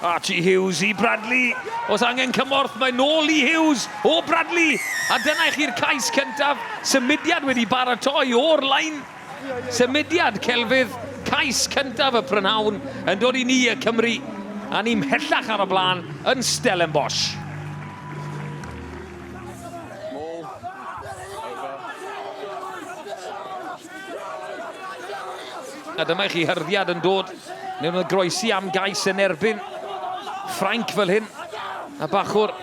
Archie Hughes i Bradley. Os angen cymorth, mae nôl i Hughes o Bradley. A dyna i chi'r cais cyntaf. Symudiad wedi baratoi o'r lain. Symudiad celfydd, cais cyntaf y prynhawn yn dod i ni y Cymru. A ni mhellach ar y blaen yn Stellenbosch. Mall. Over. A dyma i chi hyrddiad yn dod mewn y groesi am gais yn erbyn Ffrainc fel hyn. A bachwr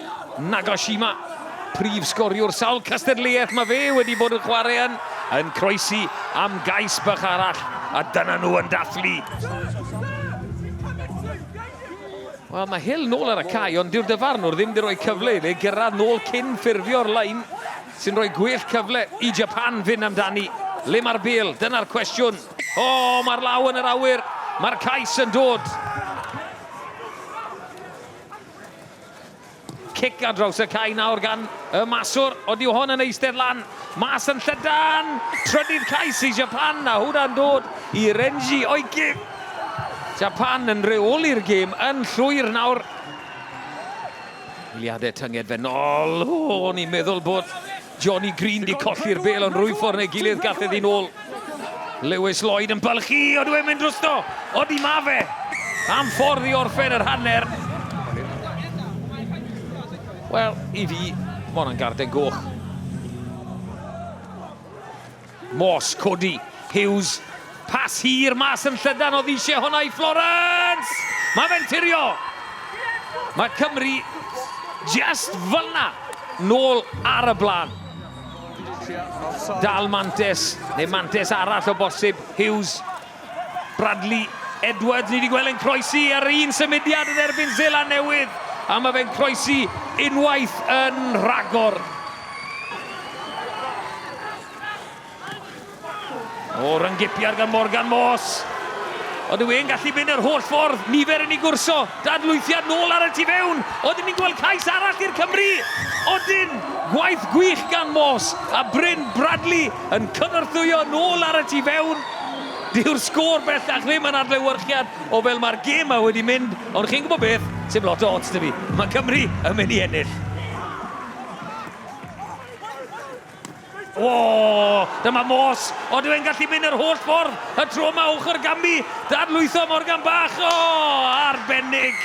Nagashima, prif sgoriwr sawl cystadleuaeth mae fe wedi bod yn chwarae yn, yn croesi am gais bach arall. A dyna nhw yn dathlu. Wel, mae Hill nôl ar y cae ond dyw'r dyfarnwr ddim 'di rhoi cyfle iddi gyrraedd nôl cyn ffurfio'r lein sy'n rhoi gwell cyfle i Japan fynd amdani. Le mae'r bêl? Dyna'r cwestiwn. O, mae'r law yn yr awyr! Mae'r cais yn dod! Cic ar draws y cae nawr gan y maswr, ond yw hon yn eistedd lan? Mas yn llydan! Trydydd cais i Japan, a hwnna'n dod i Renji Oiki. Japan yn reoli'r gêm yn llwyr nawr. Eiliadau tynged fe nol. O, o'n i'n meddwl bod Johnny Green 'di colli'r bêl ond rhwyf ffordd neu gilydd gall e ddyn nôl. Lewis Lloyd yn bylchu, ond yw e'n mynd drosto? Odi ma fe! Am ffordd i orffen yr hanner. Wel, i fi, ma' hwnna'n garden goch. Morse, codi, Hughes, pas hir mas yn llydan o ddisiau honna i Florence! Mae fe'n tirio! Mae Cymru just fyna, nôl ar y blaen. Dal Mantes, neu Mantes arall o bosib, Hughes, Bradley Edwards, ni wedi gweld e'n croesi ar un symudiad yn erbyn Zela Newydd, a mae fe'n croesi unwaith yn rhagor. O, ryngipiad gan Morgan Moss. Ond yw e'n gallu mynd yr holl ffordd? Nifer yn ei gwrso. Dadlwythiad nôl ar y tu fewn. Oedden ni'n gweld cais arall i'r Cymru. Odyn, gwaith gwych gan Moss. A Bryn Bradley yn cynorthwyo nôl ar y tu fewn. Dyw'r sgôr bellach ddim yn adlewyrchiad o fel mae'r gêm 'ma wedi mynd, ond chi'n gwybod beth, sdim lot o ots 'da fi, mae Cymru yn mynd i ennill. O! Dyma Morse. Ond yw e'n gallu mynd yr holl ffordd y tro yma ochr Gambi? Dadlwytho Morgan Bach. O! Arbennig!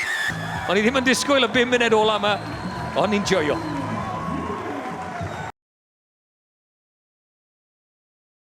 O'n i ddim yn disgwyl y bum munud ola yma, ond ni'n joio.